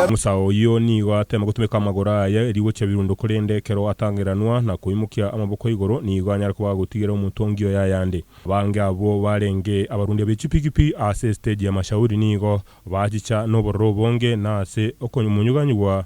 Musa oyio nigo ateema gotumeka amagoro aye rigochia birundo korende ekero atangeranwa na koimokia amaboko igoro nigo anyare koba agotigera omonto ongiya oyo ayande. Abange abwo barenge abarundi be chipiki-piki ase esiteji ya Mashauri nigo bachicha nobororo obonge na ase okomonyuganyugwa.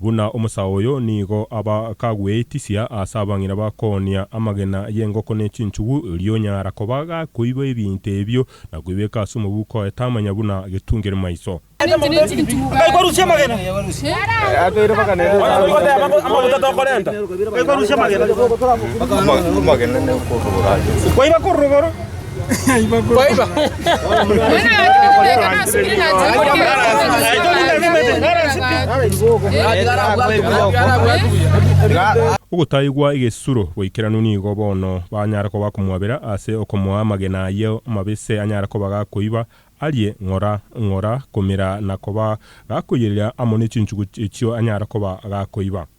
Buna omosae oyo nigo abakagweitisia ase abang'ina bakoonia amagena y'engoko ne chinchugu, erio onyara koba gakoiba ebinto ebio na koibeka ase omobuko oye tamanya buna getungire maiso. Ogotaigwa egesuro goikeranu nigo bono banyare koba komwabera ase okomoa amagena aye mabese anyare koba gakoiba arie ng'ora ng'ora, komira na koba gakoiyereria amo ne chinchugu echio anyare koba gakoiba.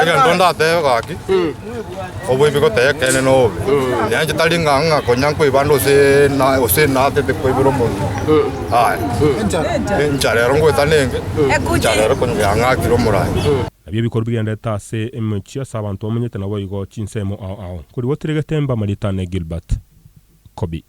Erinde ndatebe gaki, oboibi gotaiyo ekeene na obobe, nenche tari ng'a ng'a konya nkoiba ande gose na gose natete koibera omonto. Aye, incha rero ngoeta nenge, incha rero konya yang'akire omorandia. Nabio bikorwa bigenderete ase emechie ase abanto bamenyete naboigo chinsemo ao ao. Nkorigotiregete mbamariete ane Gilbert Kobi.